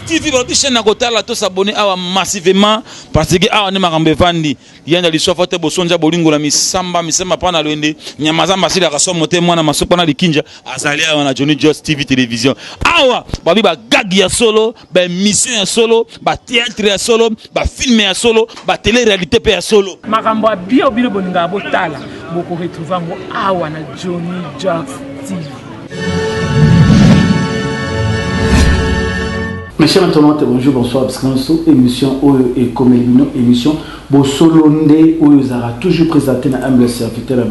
tv balobi chaîne na kotala to s'abonner awa massivement parce que awa nde makambo evandi yanda liswafa te bosonja bolingo na misamba misamba mpa na lwende nyama zamba asilaka somo te mwana masuku wana likinja azali awa na johnny jos tv télévision awa balobi bagagi ya solo ba emission ya solo ba theatre ya solo ba film ya solo ba tele réalité pe ya solo makambo ya bio bino bolingaka botala boko retrouve yango awa na Johnny Jax TV Mes chers internautes, bonjour, bonsoir, parce que nous émission Oyo et comme émission, Bosolo Nde, Oyo Zara, toujours présenté dans Humble Serviteur,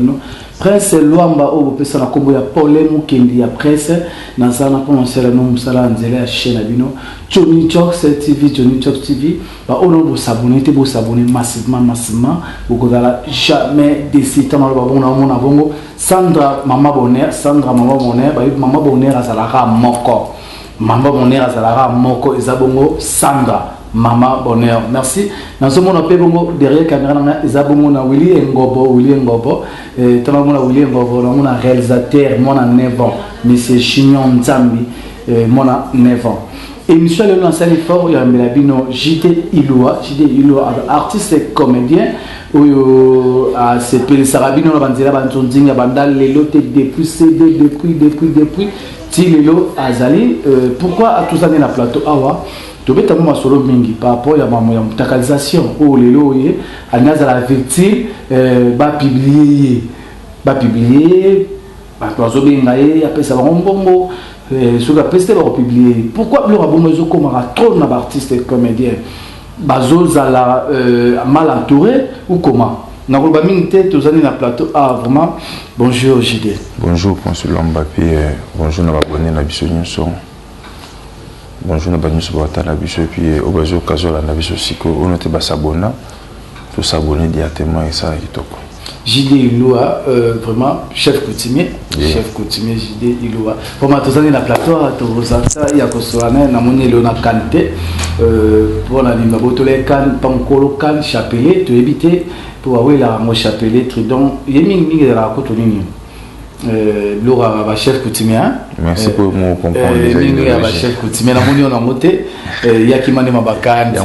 Prince Luamba oyo bopesa na kombo ya Pole Mukendi ya Presse na za na pona sela no musala na nzela ya chaine na bino Johnny Jocks TV Johnny Jocks TV ba oyo na bo s'abonner te bo s'abonner massivement massivement bokozala jamais déçu tant na ba bongo na mona bongo Sandra maman bonheur Sandra maman bonheur ba mama bonheur azalaka moko Maman bonheur azalaka moko eza bongo Sandra maman bonheur merci nazomona mpe bongo derrière caméra na ngai eza bongo na Willy Ngobo Willy Ngobo eh, tala mona Willy Ngobo na mona réalisateur mwana 9 ans monsieur Chignon Nzambi eh, mwana 9 ans émission lelo nasali fort oyo yambela bino JT Ilua JT Ilua artiste comédien oyo asepelisaka ah, bino na banzela banzonzinga banda lelo te depuis CD depuis depuis depuis ti lelo azali euh, pourquoi atuzani na plateau awa tobetamo masolo mingi par rapport ya mamo ya mutakalisation oyo oh, lelo oye alingi azala victime euh, bapiblie ye bapiblie ye bato bazobenga ye apesa bango mbongo euh, soki apesi te bakopiblie ye pourquoi biloko abongo ezokomaka trop na baartiste comédien bazozala mal entouré ou comment Nakoloba mingi te tozali na plateau ah vraiment bonjour JD. Bonjour Prince Lamba pe euh, bonjour na babone na biso nyonso. Bonjour na banyonso batala biso epi euh, oyo bazo kazola na biso sikoyo oyo te basabona tosabone directement esala kitoko. JD Ilua, euh, vraiment chef coutumier, yeah. chef coutumier JD Ilua. Poma tozangi na plateau awa tozalisa ya kosola naye namoni eleo na kane te mpo euh, na nini babotola ye kane mpa mokolo kane chapelet toyebi te mpo bawelaka yango chapelet tridon ye mingi mingi ezalaka kutu nini euh, biloko ya bachef coutumier merci euh, pour mon comprendre mingi ya bachef coutumier namoni yo nango te yakima nde mabakani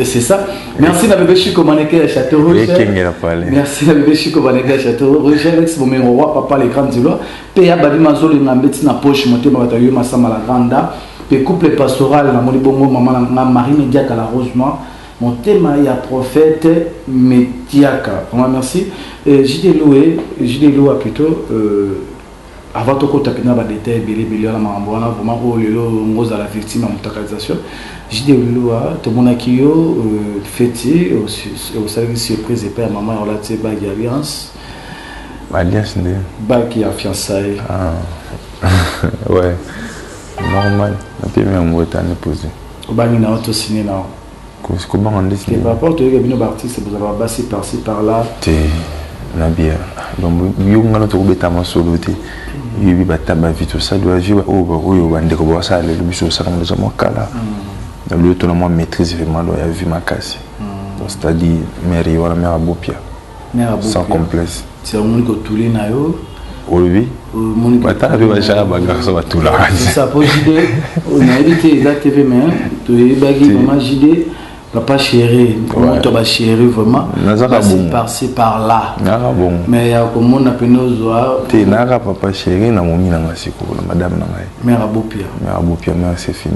c'est ça Merci na bébé Chico Maneke ya Château Rouge. Ekengela pale. Merci na bébé Chico Maneke ya Château Rouge. Alex Bomengo wa papa le grand Dilois. Pe ya babi mazoli na mbeti na poche motema bato yo masama la grande dame. Pe couple pastoral na moni bongo maman na nga Marie Mediaka la Rose Noire. Motema ya prophète Mediaka. Vraiment merci. Euh, JD Loué, JD Loua plutôt euh, Avant tokota pena ba details ebele ebele wana makambo wana vraiment oyo lelo ngo ozala victime ya mutakalisation JD Lulua tomonaki yo euh, feti euh, osalaki surprise epai ya mama ya olati ye bague ya alliance ba alliance nde bague ya fiançaille ah. ouais normal napemi yango etani pose obangi na yo to signe na yo kobanga nde te par rapport toyeke bino ba artiste bozalaka basi par ci par là te na bia donc yo ngana tokobeta masolo te yebi bata ba vie tosali ba vie oyo oyo bandeko basala lelo biso osala ngo eza mwa kala na lelo tona mwa maîtrise vraiment do ya vie makasi donc c'est à dire mère ye wana mère abopia sans complexe ti amoni kotuli na yo olobi batala mpe bajara bangarso batulakasa po jide nayebi te eza te mpe mai toyebaki mama jide papa chéri moto ba chéri vraiment basi parci par là naka bongo mais ya komona mpene ozwa te naka papa chéri na momi na ngai sikoyo na madame na ngai mère abopia mère abopia mère c'est fini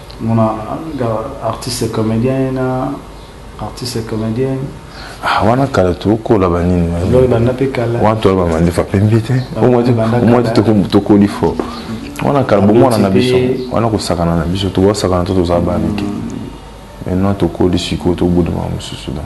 Mona nga artiste comedien na artiste comedienne. Ah, wana kala tokola banini loyo banda mpe kala wana tola bamandefa pembe te omwa te tokoli fo wana kala bomwana na biso wana kosakana na biso tokosakana to tozala bamike maintenant tokoli sikoyo tobudama mosusu donc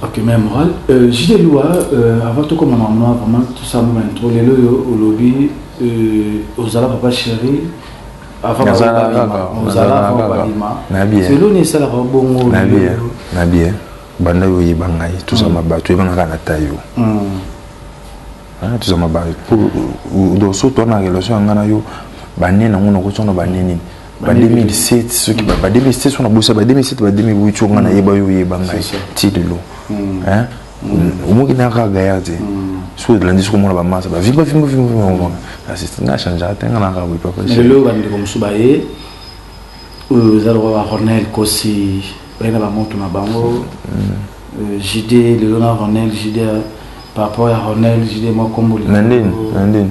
Ok, mais moral. Euh, JD Lua, euh, avant tout comme ma maman, vraiment tout ça, mon intro, les loyo, au lobby, euh, aux zala papa chéri, avant ma maman, aux zala avant ma maman. Nabi. C'est l'on est ça la bongo. Nabi. Nabi. Banda yo yeba ngai, tout ça ma ba, tu es banga kana tayo. Hmm. Hein, tout ça ma ba. Pour, dans ce toi na relation ngana yo, bande na ngona ko tsono bande nini. ba 2007 soki ba 2007 wana bosa ba 2007 ba 2008 nga na yeba yo yeba ngai ti lelo mm. hein mm. omoki na ka gaillard te mm. so de lundi sokomona ba masa ba vimba vimba vimba vimba na c'est na change ata nga na ka oui papa c'est le bande comme suba ye euh zalo ba Ronel Kosi bana ba moto na bango euh, JD le Ronel JD par rapport à Ronel JD moi comme na ndeni na ndeni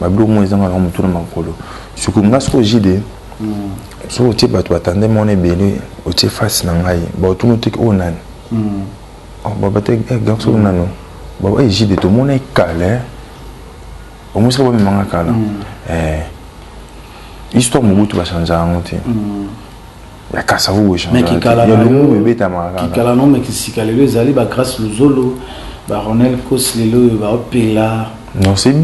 Babilo mwa ezanga na mutu na makolo. Siko nga siko jide. Mm. Soko otie bato batande mwana ebele otie face na ngai. Baotuna otiki oyo nani. Mm. Oh, baba te eh, garçon mm. nano. Baba eh, jide tomona ekale. Eh. Omusika bamemanga kala. Mm. Eh. Histoire mobutu bachanza yango te. Mm. ya kasavubu echangeya lombume ebetamaka kaka kikala no me kisika lelo ezali ba grace luzolo ba ronel kos lelo oyo baopela non c'est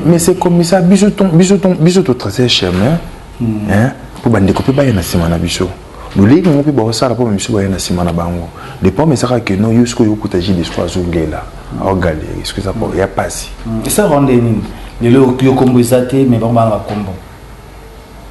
mais c'est comme ça biso ton biso ton biso to tracer chemin hmm. hein mpo bandeko mpe baya na nsima na biso lolei bango mpe baosala mpo bamisu baya na nsima na bango le problème ezaka ke no yo sikoyo okuta ji desco azolela aogaleri soki eza po ya mpasi esa rende nini lelo yo kombo eza te mais bango banga kombo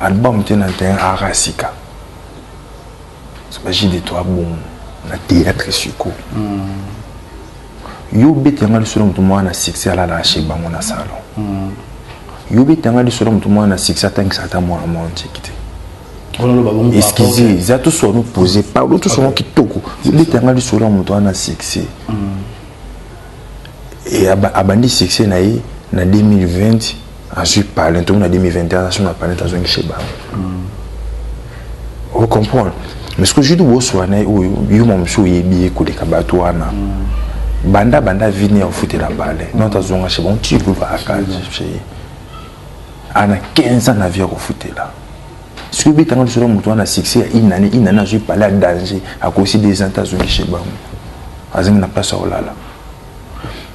album te na terrain art ya sika baji de toi bongo na théâtre siko yo obeta yanga lisolo moto moko na succès alalaka chez bango na salon yo obeta yanga lisolo moto moko na succès atangisa ata mwana mwa ntiki te excuse eza tous wana opose palo tous wana kitoko obeta yanga lisolo ya moto wana na succès mm. et abandi succès na ye na 2020 azwi palin tomi na 2021 aso na palin azongi chez bango mm. o comprendre mais soki ozwi boswa na ye oyo yo ma mosusu oyebi ye koleka bato wana mm. banda banda vini ofutela palin mm. nota azonga chez bango ti groupe akali ana 15 ans na vie akofutela soki obeta nga lisolo moto wana succès ya une année une année azwi pale ya danger akosi des ans te azongi chez bango azangi na place ya kolala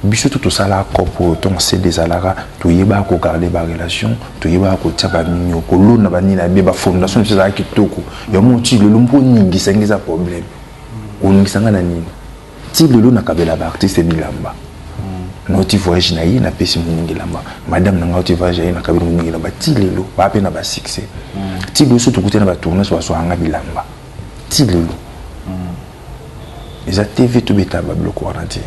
biso to tosalaka cope oyo ntongo sede ezalaka toyebaka kogarde barelation toyebaka kotia bamimio kolona banini ya be bafondation biso ezalaka kitoko yango moti lelo mpo oningisangi eza problème oningisanga na nini ti lelo nakabelaka baartiste bilamba nauti voyage na ye napesi moningi elamba madame na ngai auti voyage na ye nakabeli moningi elamba ti lelo baa mpe na basuccès mm. ti lelo so tokutani na batournage bazwaka ngai bilamba ti lelo mm. eza tv tobetaka babiloko wana te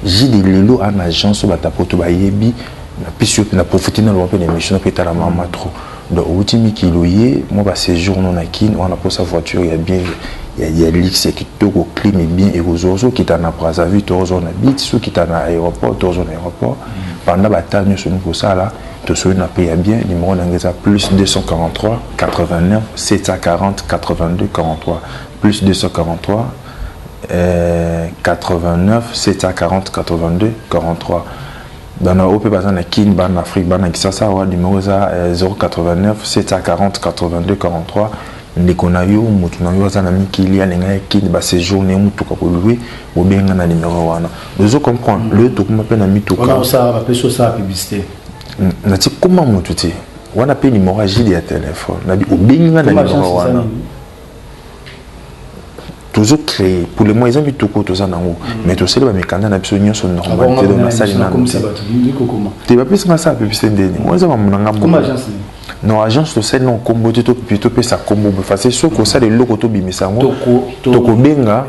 jide lelo ana agence oyo batapoto bayebi napesi yo mpe na profite naloba mpe na émission na mpe etala mama trop Donc owuti mikili oye mwa ba sejour no na kin wana posa voiture ya bien ya, ya luxe ya kitoko clim bien ekozwa ozo kita na Brazzaville to ozo na bit so kita na aéroport to ozo na aéroport pendant ba temps nyoso niko sala to soyi na prix ya bien numéro na ngeza plus 243 89 740 82 43 plus 243 euh, 89 740 82 43 Bana oyo mpe baza na Kin, bana na Afrique, bana na Kisasa awa, numero eza 089 740 82 43. Ndeko na yo, motu na yo aza na mikili, alinga ya Kin, ba sejour na ye, motuka ko loue, obenga na numero wana. Ozo comprendre? Mm. Lelo tokoma mpe na mituka. Wana osala ba peso sa publicité. Na ti koma motu ti. Wana mpe numero ya Gilles ya telephone. Na bi obenga na numero wana. tozo créer pour le mois eza mitoko toza nango mm. mais tosali bamikanda na biso nyonso normal te do nasali nano te te bapesi nga sala publicité ndeni oyo eza mamu na nga moko non agence tosali nango nkombo te topesa nkombo bofase soki osala eloko tobimisa yango tokobenga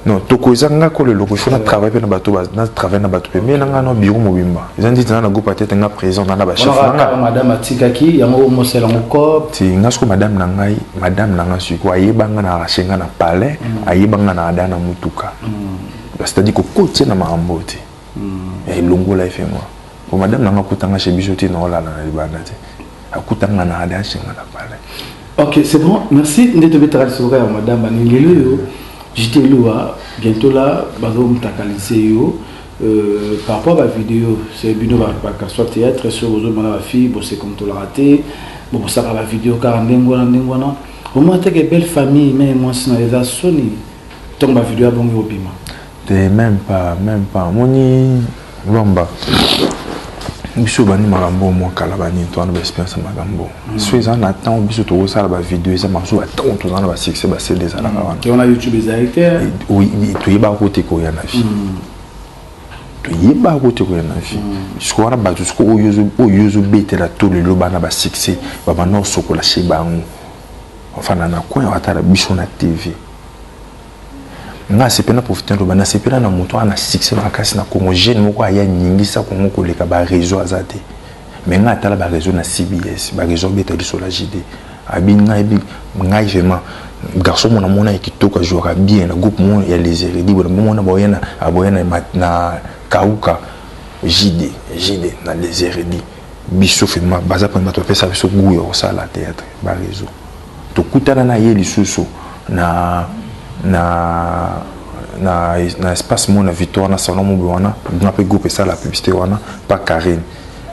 non toko eza nga kolo eloko il faut na travail pe na bato na travail na bato pe mais na nga na bureau mobimba eza nditi na na groupe ya tete nga président na na ba chef na nga madame atikaki yango mosela ngo cop ti nga siko madame na ngai madame na nga siko ayeba nga na arrache nga na palais mm. ayeba nga na ada na mutuka mm. c'est-à-dire ko kotie na makambo te Eh, longola ye fengo. Po madame nanga kutanga chez biso te na olala na libanda te. Akutanga na ada chenga na pala. Ok, c'est bon. Merci. Nde tobetaka lisolo ya madame baningi lelo yo. J'étais loua bientôt là bazo mtakaliser yo. Euh, par rapport à la vidéo, c'est bino ba ba soit théâtre sur ozo mona ba fille, bon c'est comme tout la raté. Bon ça la vidéo car ndengwana ndengwana. Au moins t'es que belle famille mais moi c'est na les soni. Tomba vidéo abongi obima. te meme pas meme pas omoni lwamba biso bandi makambo mwa kala banini toza na baexperience ya makambo mm. so eza na ntango biso tokosala bavideo eza masu batango toza na basuccès basele ezalaka mm. wana toyebaka kote koya na vie mm. toyebaka kote koya na vie siko wana bato siko oyo ozobetela to lelo bana basuccès babanda osokola she bango ofanda na coin atala biso na tv Nga nasepeli na profite naloba nasepela na moto aza na succès makasi na Congo jeune moko aya ningisa Congo koleka ba reseau aza te mais nga tala ba reseau na CBS ba reseau abeta liso la JD abi nga abi ngai vraiment garçon mona mona ya kitoko ajouaka bien na groupe moko ya les Heredi bona mona baoya na aboya na, na kauka JD JD na les Heredi biso vraiment baza pona bato bapesa biso gout ya kosala théâtre ba reseau Tokutana na ye lisusu na, na, na, na espace mona victoire na salon mobe wana nga mpe groupe esala publicité wana pa Karine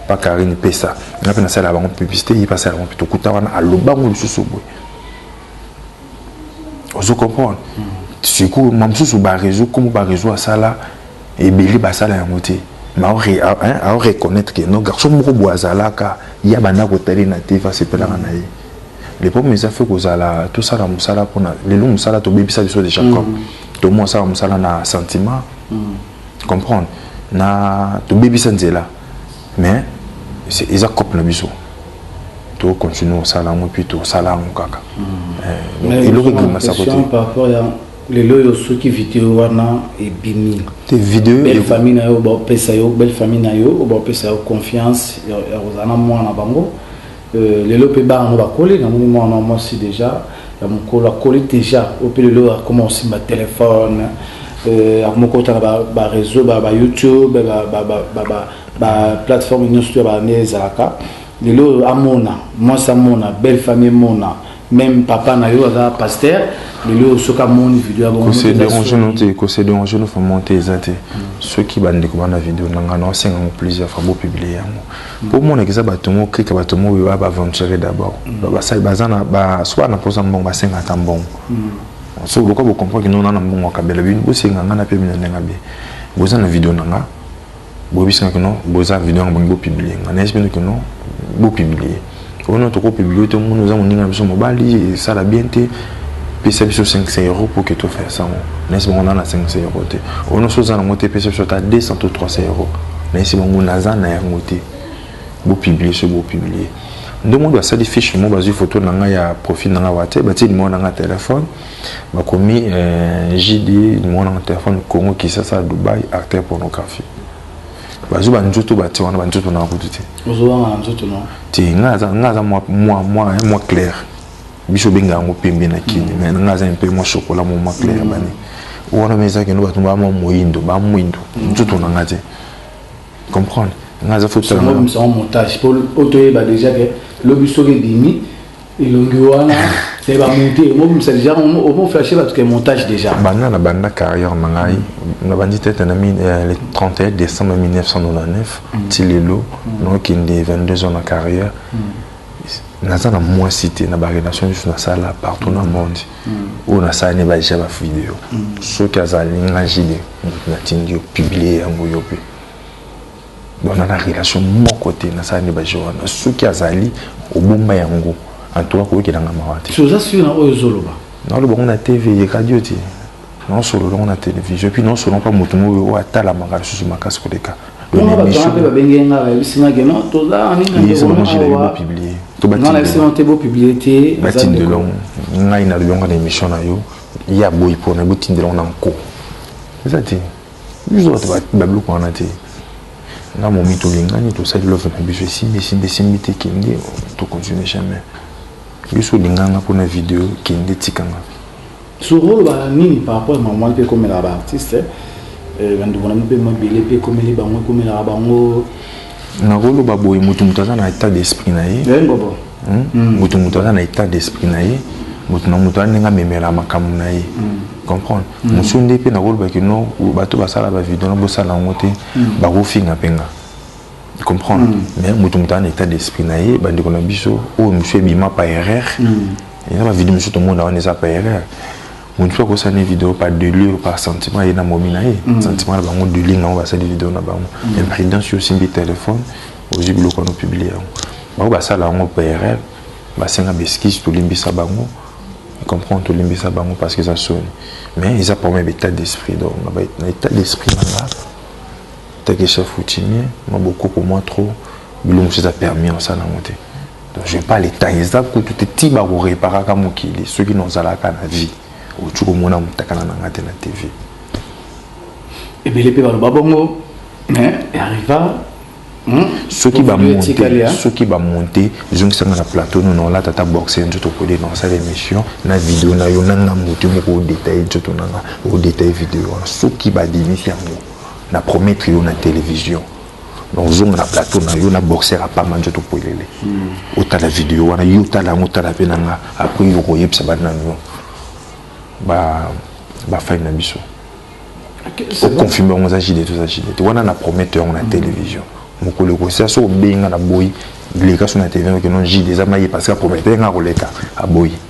pa Karine pesa nga mpe nasala bango publicité ye mpe asala bango mpe tokuta wana alobango lisusu boye ozo comprendre mm. sikoyo ma mosusu bareseau komo bareseau asala ebele basala yango te aoreconnaitre ke no garçon moko boye azalaka ye abanda kotali na te fasepelaka na ye le problème eza fait kozala tosala mosala mpona lelo mosala tobebisa biso de jacob mm. tomo asala mosala na sentiment mm. comprendre na tobebisa nzela mais eza cope na biso tocontinue kosala yango puis tosala yango kaka mm. eh, eloko ebimasa kote lelo oyo soki video wana ebimi te video belle famille na yo baopesa yo belle famille na yo baopesa yo confiance ya kozala na mwana bango Euh, lelo mpe bana no bakoli namoni mwana mwasi deja ya mokolo akoli deja oyo mpe lelo akoma kosimba telefone euh, akoma kota na bareseau ba, ba, ba youtube baplateforme ba, ba, ba, nyonso to ya bana ezalaka lelo oyo amona mwasi amona belle famille emona Meme papa na yo aza pasteur lelo soki amoni video ya kose déranger no te kose déranger no vraiment te eza te soki bandeko bana video na ngai naosenga yango plusieurs fois bopublie yango mpo omonaka eza bato moko krika bato moko oyo baaventure d'abord basali baza na soki bana mposa mbongo basenga ata mbongo so lokola bocomprendre kino na na mbongo akabela bino bosenga ngai na mpe bino ndenge abe boza na video na ngai Boyebisi nga que non boza video nga bolingi bo publier nga nayebisi bino que non bo publier oyo non toko publier to moni oza moninga na biso mobali esala bien te pesa biso 500 euros pour que to faire ça ngo nayebisi bango na na 500 euros te oyo non soza na ngo te pesa biso ata 200 to 300 euros nayebisi bango naza na yango te bo publier so bo publier nde moni basali fiche mo bazwi photo na nga ya profil na nga wate batie nimero na nga ya telefone Bakomi euh, JD mwana na telefone Congo Kisasa Dubai acteur pornographie. Bazwi ba nzoto batie wana ba nzoto na kutu te. Ozobanga na nzoto na. Te nga aza nga aza mwa mwa mwa mwa clair. Biso benga yango pembe na kini mm. mais nga aza un peu mwa chocolat mwa mwa clair mm. bani. Wana mais ezaki ndo bato ba mwa moyindo ba mwindo mm. nzoto na nga te. Comprendre? Nga aza faut tala. Montage pour otoyeba déjà que lobi soki bimi elongi wana me bamonte omobimisa deja omoflashe bato ke montage deja banda na banda carrière na ngai nabandi tete na euh, le 31 décembre 1999 mm. ti lelo mm. naokende 22 ans na carrière mm. naza na mwasi te na barelation juste nasala partout na monde oyo nasala ne badeja bavideo soki azali nga jide natindi yo publie yango yo mpe Bon nana relation moko te na sani ba joana soki azali obomba yango en tout cas ko yokela nga mawa te. Si oza sur na oyo zoloba. Na loba ngo na TV ye radio te. Na solo longo na television puis na solo pa mutu mo yo atala maka susu makasi ko leka. Bon ba tanga pe ba bengi nga ba yebisi nga ke non toza na nini na ndeko na awa. To ba tindi. Non na yebisi nga te bo publier te. Ba tindi longo. Ngai na longo na emission na yo. Ya boyi pona bo tindi longo na nko. Eza te. biso bato babiloko wana te nga momi tolingani tosali love na biso esimbi esimbi esimbi te kende tocontinue jamais biso olinganga mpona video kende tikanga sokolobaka nini par rapport ya mama mpe ekomelaka baartiste eh, bandeko na bino mpe mwa ebele mpe ekomeli bango ekomelaka bango nakoloba boye moto moto aza na état d'esprit na ye hmm? moto moto aza na état d'esprit na ye moto na moto aza ndenge amemela makambo na ye hmm. comprendre hmm. mosusu nde mpe nakoloba kino bato basala bavideo na bosala yango te bakofinga mpe nga comprendre mais moto moto aza na état d'esprit na ye bandeko na biso oyo mosusu ebima pa erreur eza bavideo mosusu tomona wana eza pa erreur mutu mpe akosala ne video par delure par sentiment ye na momi na ye mm. sentiment na bango dealing yango basali video na bango mm. mais président si osimbi telefone ozwi biloko wana opiblie yango bango basala yango mpe erreur basenga beskise tolimbisa bango comprendre tolimbisa bango parce que eza soni mais eza problème ya état d'esprit donc na état d'esprit na nga take chef coutumier mabokoko mwa trop bilongo mosusu eza permis osala yango te Je pas le temps eza kutu te ti bakoreparaka mokili soki nozalaka na vie okoki komona motakala na ngai te na tv ebele mpe baloba bongo arriva hmm? soki bamonte soki bamonte zongisanga na plateau no naola tata boxe nzoto okode na osala émission na video na yo nanga moto moko odetaille nzoto nanga odetaille video wana soki badimisi yango na promettre yo na télévision donc zonga na plateau na yo na boxer ya pamba nzoto polele hmm. otala video wana yo otala yango otala mpe na nga apres yo okoyebisa bana yo bafai na biso oconfirme yango oza jide toza jide te wana na promete yango na hmm. télévision mokolo ekosia so obenga na boyi leka so na télévision okeno jide eza maye parce que apromete nga koleka aboyi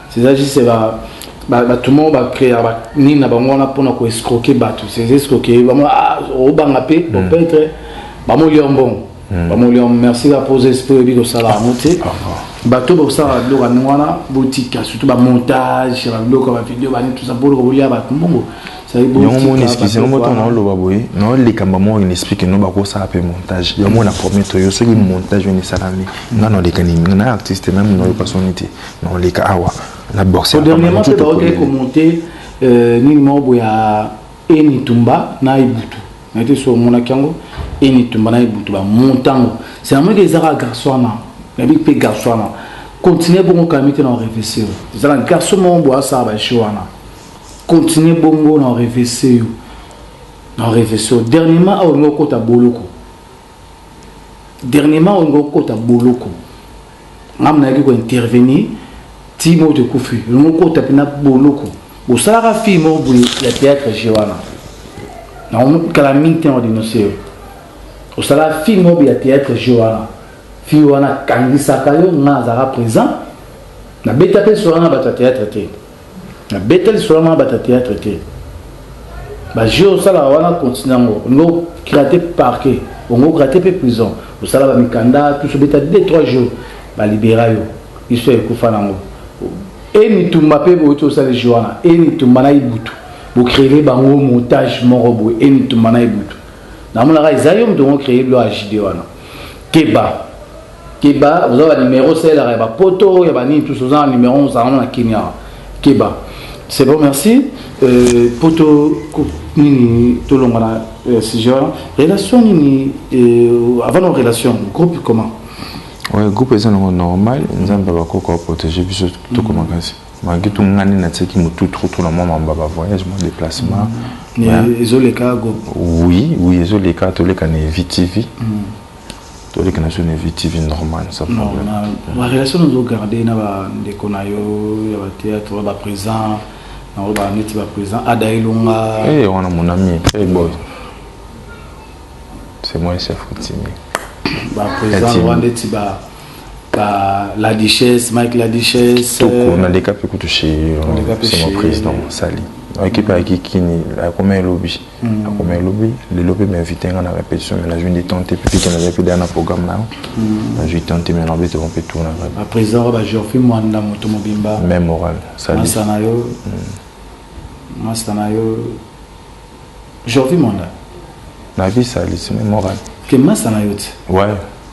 C'est ça juste ba ba ba tout monde ba créer ba ni na bango na pona ko escroquer ba tous ces escroquer ba ah au banga pe au peintre ba mo lion bon ba mo lion merci la pose esprit bi ko sala amote ba to ba sala do ka nwana botika surtout ba montage ba do ka ba vidéo ba ni tout ça pour ko liya ba mbongo yango moni explique yango moto na oloba boye na likambo moko na explique no bakosala mpe montage yango na premier toyo soki montage oyo esalami nga na oleka nini na artiste meme nayoka soni te Non leka awa na boxe. Au dernièrement pe ba ko monter euh nini moko ya Eni Tumba na Ibutu. Na été sur mon akango Eni Tumba na Ibutu ba montango. C'est un mec qui zara garçon na. Na bi pe garçon na. Continuer bon quand même na réfléchir. Zara garçon mon boya ça ba chiwana. Continuer bongo na réfléchir. Na réfléchir. Dernièrement au ngoko ta boloko. Dernièrement au ngoko ta boloko. ngamu nayaki ko intervenir ti moto ekufi olongo kota mpena boloko bosalaka fille moko boye ya théâtre je wana nakala mingi te na denonse yo osalaka fille moko boye ya théâtre je wana fille wana akangisaka yo nga azalaka présent nabeta mpe sola na bato ya théâtre te Na Bethel lisolo ya mabata theatre te. Ba jeux osalaka wana continue yango. Olingi o gratter parquet, olingi o gratter pe prison, osala ba mikanda tous obeta deux trois jours ba libera yo. Histoire ekufa nango. Eni Itumba pe bowuti osali jeu wana. Eni Itumba na Ibutu bo creer bango montage moko boye Eni Itumba na Ibutu. Namonaka eza yo mutu oko creer biloko ya JD wana. Keba. Keba oza ba numero osalelaka ya ba poto ya ba nini tous oza na numero ozalaka na Kenya keba c'est bon merci euh, poto nini tolonga na euh, sujet wana relation nini euh, avant na relation groupe comment ouais, groupe eza nango normal nzambe bakoko aprotege biso toko mm. makasi malgré tout nga nde natiaki motu trop trop na mwa mamba ba voyage mwa déplacement mm. ezoleka go oui oui ezoleka toleka na evitv mm. toleki na zone vie tv normal sa problème ba relation nous garder na ba ndeko na yo ya ba théâtre ba présent na ba neti ba présent ada elonga eh wana mon ami hey boy c'est moi chef coutumier ba présent wana neti ba ba la duchesse Mike la duchesse toko euh, na leka pe kutu chez euh, c'est mon président sali ekipe ayaki kini akomai lobi Mm. akomi ya lobi lelo mpe m'invite nga na répétition mais nazwi nde temps te mpe pike nazali mpe deya na programme na yo mm. nazwi temps te mais naobe toko mpe tour na ngai baprésident ba georphi mwanda moto mobimba même moral masta na yo mm. masta na yo georphi mwanda nayebi salisi mais moral ke masta na yo te ouais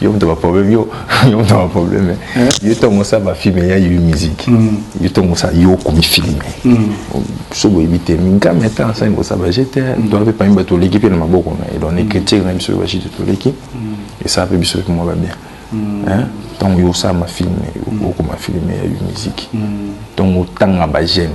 yo moto ba problème yo yo moto ba problème eh? yo to mosa ba film ya yo musique mm. yo to mosa yo ko mi film mm. so bo ibite minga meta ça ngo ça ba j'étais mm. donc pas une bato l'équipe na maboko na et donc écriture même sur ba chute to l'équipe et ça peut biso moi va bien hein tant yo ça ma film yo ko ma film ya yo musique tant otanga ba j'aime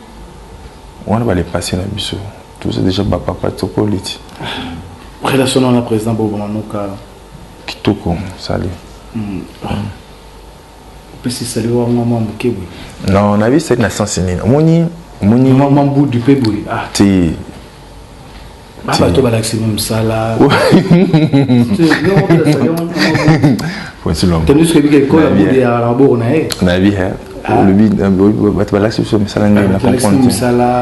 wana ba le passé na biso toza déjà ba papa tokoli ti relation na président bobo manuka kitoko sali mm. opesi sali wanga mwa moke boye non na biso na sens nini omoni omoni mambudu mpe boye ah. te bato balakisi mo mosala nayebi olobi bato balakisi biso misala ndenge na comprendre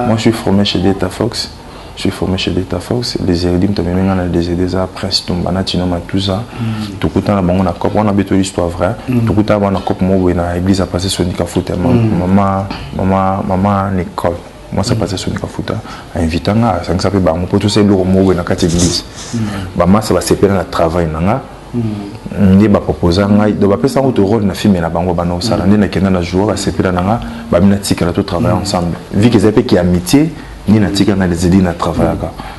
moi je suis formé chez data fox je suis formé chez Delta Fox, les Eridim, tu as même dans les Edesa, Prince Tumbana, Tino Matouza, mm. tout le temps, on a cop, on a béto l'histoire vraie, mm. tout le temps, on a cop, moi, on a église à passer sur Nika Foot, maman, mm. maman, maman, maman, Nicole. mwasi apasa soni kafuta ainvita nga asangisa mpe bango mpo tosala eloko moko boye na kati eglise bamasa basepela na travail na nga Mm. nde baproposa ngai donc bapesa yango to role na filme na bango banda kosala nde nakenda na jour basepela na nga bamina tikala to travaille mm. ensemble vike eza mpe ki amitié nde natika ngai lezeli na travaillaka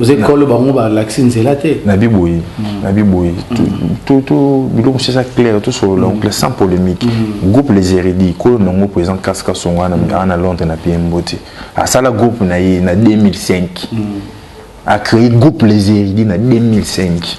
oza ekolo bango balakisi nzela te na biboyi mm. na biboyi mm. biloko mosusu eza claire tosolola mm. oncle sans polémique groupe les héridi kolo nango président kasi kasongo aa na londres na pie mbote asala groupe na ye na 2005 acréé groupe les héridi na 2005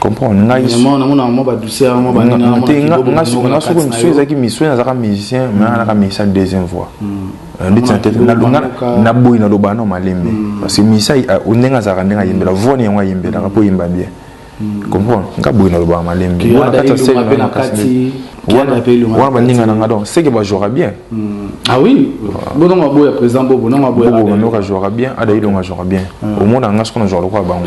comprendre ngai soko misu ezalaki misu nazalaka musicien mais anaka musicien deuxième voix ndeti na tete nalonga naboyi naloba no malembe parce que misa ndenge azalaka ndenge ayembela voix ne yango ayembelaka mpo oyemba bien comprendre nga boyi nalobaka malembe wana kati ya sene wana baninga na nga donc seke bajouaka bien boboka jouaka bien adailonga jouaka bien omona nga soko na jouaka lokola bango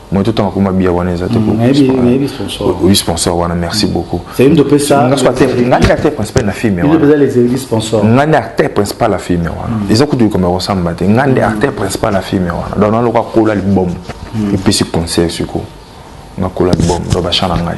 moyen totanga koma biya wana eza te oyebi sponsor wana merci beaucoup ngai acteur principal na filme ngai nde acteur principal ya filme wana eza kutu likambo ya kosamba te ngai nde acteur principal ya filme wana donc naloka kola libombo epesi conseil siko nakola libombo donc bachan na ngai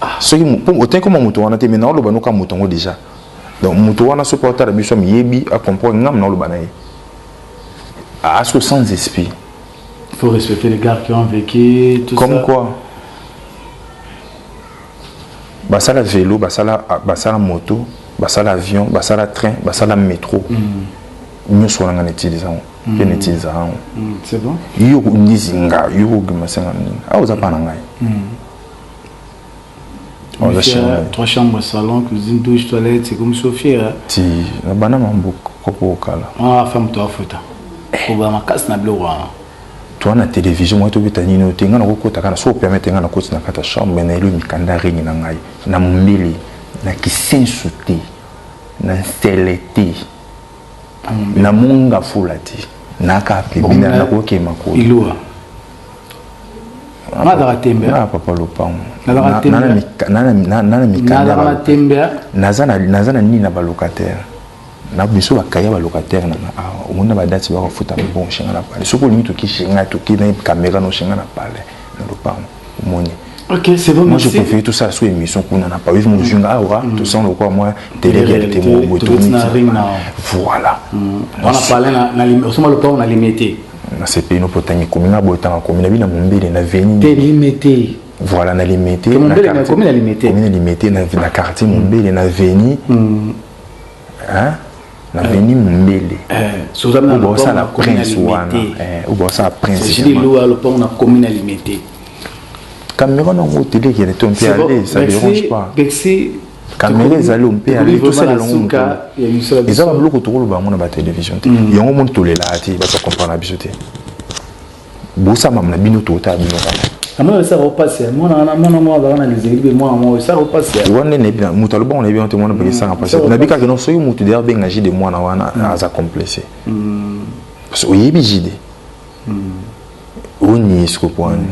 ah soki mpo otangi koma moto wana te me naoloba noka moto yango deja donc moto wana soki aotala biso amiyebi acomprendre ngam naoloba na ye asko ah, sans esprit il faut respecter les gars qui ont vécu tout comme ça. quoi basala vélo basala basala moto basala avion basala train basala métro mm. nyonso wana nga na utilise yango mpe na utilise yango yo kondizi nga yo kogima senga nini awa oza mpa na ngai mm. Trois chambres, salon, cuisine, douche, toilette, c'est comme Sophie. Hein? Si, la banane en boucle, au kala. Ah, femme, toi, fouta. Au bas, ma casse n'a bleu, toi na télévision moi tobi ta nino tenga na kokota kana so permettre nga na koti na kata chambre mais na elu mikanda ringi na ngai na mbili na kisensu te na nsele te na monga fula te na ka pembina na kokema ko ilua nazalaka tembe ah, papa lopango naza na nini na balocataire na biso bakaya balocataire nanga awa omoni na badati bakafuta mabongo shenga na pale soki olingi toki shenga toki na kamera no shenga na pale na lopango omoni Ok, c'est bon, Moi, merci. je préfère tout ça sous émission qu'on en a pas. Ils nous jungent, ah, ouais, mm. tout ça, on le croit, moi, télé-réalité, moi, au bout de Voilà. Mm. On a parlé, on a limité. Na sepeli no potangi komi na boye tanga komi na bina mombele na veni. Te limete. Voilà na limete. Te mombele na komi na limete. Komi na limete na na quartier mombele na veni. Mm. Hein? na eh. veni mombele obosala eh, prince wana obosala eh, princelopango na komi na limete cameron yango otelekele to mpe ale ça dérange pas kamere ezali oyo mpe ale tosala elongo moto eza babiloko tokoloba yango na batelevision te mm. yango moni tolelaka te bato bakomprendre na biso te bosamama na bino totala bino kaka amona esa kopasi mwana wana mwana mwa azalaka na lizeli mpe mwana mwa esa kopasi wana nayebi na moto alobango nayebi yango te mwana mpe esanga mpasi nayebi kaka no soki moto deya benga jide mwana wana mm. aza complexe mm. parce oyebi jide mm. oniesiko po wana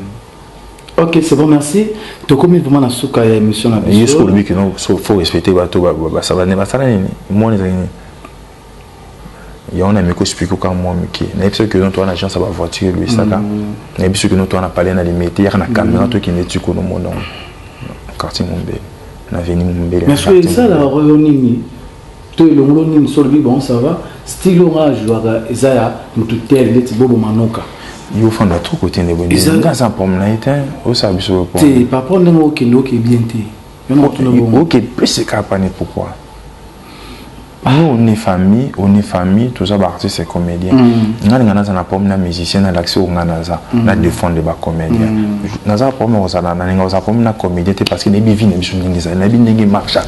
Ok, c'est bon, merci. Tokomi vraiment na suka ya émission na biso. Yesu olobi que non, so faut respecter bato ba ba sala ne basala nini? Moni za nini? Ya on a miko explique ka moi miki. Na biso que non toi na agence ba voiture lui saka. Mm. Na biso que non toi na parler na limite ya na caméra mm. toi qui ne tu kono mon nom. Quartier Mombele. Na veni Mombele. Mais so ça la royo nini? to elongolo nini solo bi bon ça va stylo nga jouaka eza ya mutu tel ndeti bobo manoka yo fanda trop côté ne bondi nga sa pom na ete o sa biso pom te par rapport ndenge okende oke bien te yo na tuna bon oke plus ka pani pourquoi nous on est famille on est famille tous les artistes et comédiens mm. nga nga naza na problème na musicien na l'accès au nga naza mm. na défendre ba comédien mm. naza problème au zala na nga au problème na comédien parce que na bi vie na biso ndenge za na bi ndenge marche à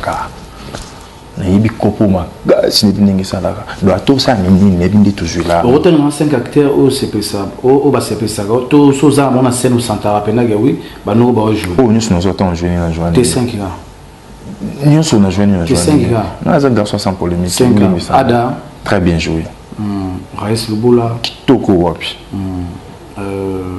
nayebi kopo makasi neyebi ndenge esalaka do ata osala na nini nayebi nde tozwi la okotanga na 5 acteur oyo osepesa oyo basepesaka to so oza yango na scène osantaka mpendake wi banoko baojoue oyo nyonso nazwa ntango joini na joani te 5 ga nyonso na joini na joani nga naza garçon sans polémique ndimisa ada très bien joué hmm, rais lubula kitoko wapi hmm, euh,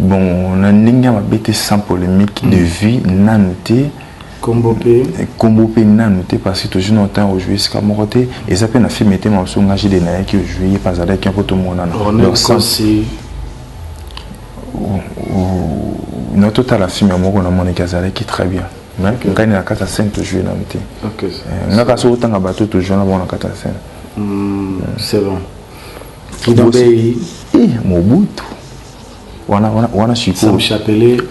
bon na ndenge ya mabe te sans polémique de hmm. vie nanu te kombo mpe eh, kombo mpe nanu te parce que tojour na temps ojoue esika moko te eza mpe na film ete mamosu nga jide nayaki ojoue ye mpe azalaki yango tomonana na totala film ya moko namonaki azalaki très bien ngai na kati ya scène tojoue nanu te eh, nga kasi otanga bato tojoue na bango na kati ya scène hmm, c'est bon eh, mobutu wana wana wana sikoyo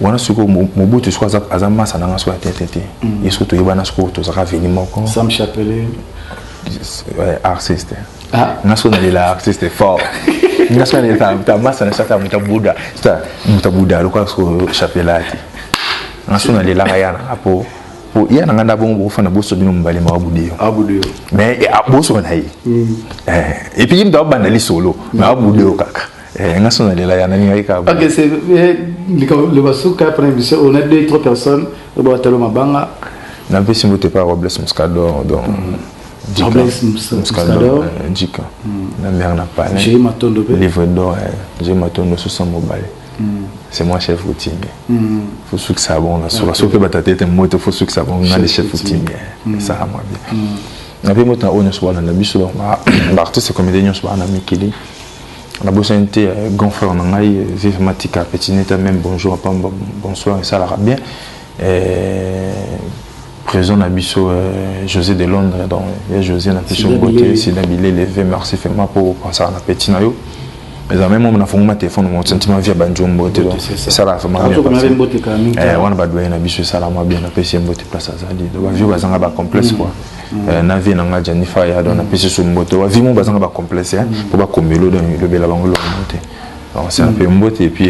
wana sikoyo mobutu sikoyo aza aza masa na ngai sikoyo ya tete te mm. ye sikoyo toyebana sikoyo tozalaka veni moko sam chapelet euh, artiste ah. nga sikoyo nalela artiste fort nga sikoyo nalela ta masa na sata muta buda sata muta buda lokola sikoyo chapelet te nga sikoyo nalelaka yana mpo po ya na nga nda bongo bokofanda boso bino mobale mawa budeyo ah, mais eh, ah, boso na ye mm. eh, epuis ye moto abanda lisolo me awa budeyo kaka eh, nga so nalela ya nalingaki kaka likambo suka après biso on a deux trois personnes batalo mabanga napesi mbote pa robles muscador donc Robles Muscador, Djika, na mère na palais, livre d'or, j'ai matondo 60 mobile. c'est moi chef coutumier mm. faut suki ça bon la sola soki ba tata était moto faut suki ça bon na les chefs coutumier mm. ça a moi bien mm. na pe moto na onyo sola na biso donc ba ba artiste comédien nyo sola na mikili na bosa nte euh, grand frère na ngai euh, vive matika petit neta même bonjour pamba bonsoir ça la bien Euh, présent na biso euh, José de Londres donc ya José na biso mbote sida bile levé merci vraiment pour penser na petit na yo eza meme moma nafunguma telefone mo sentiment via banjo mbote donc esala vraiment eh, wana badoye na biso esalama bien napesi ye mbote place azali donc bavio bazanga bacomplexe quoi mm. eh, na vie na ngai janifa ya donc napesi so mbote bavio mo bazanga bacomplexe mpo eh, mm. bakomelo donc elobela bango eloko mbote donc c'est un mm. peu mbote et puis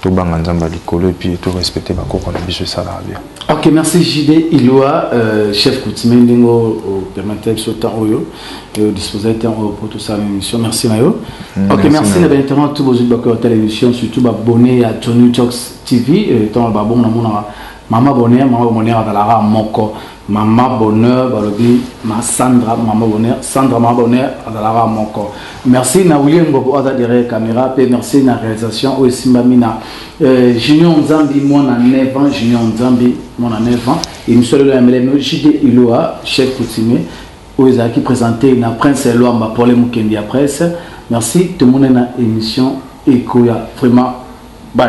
tobanga nzambe ya likolo epuis to respecte bakoko na biso esalaka bien ok merci jd iloa euh, chef coutumier ndenge opermettre euh, biso temps oyo euh, dispose temps oyo mpo tosala na émission merci na yo mm, ok merci na bainternet to bozwi bakoki batala émission surtout babonne ya tony talks tv ntango babongo namonaka mama bonheur mama bonheur azalaka moko Maman bonheur balobi ma Sandra maman bonheur Sandra maman bonheur azalaka moko merci na William Bobo aza derrière camera pe merci na réalisation oyo esimbami na euh, Junior Nzambi mwana 9 ans Junior Nzambi mwana 9 ans émission lelo ya melemo JD Iloa chef coutumier oyo ezalaki présenter na Prince Eloamba pour les Mukendi ya presse merci tomone na émission ekoya vraiment bye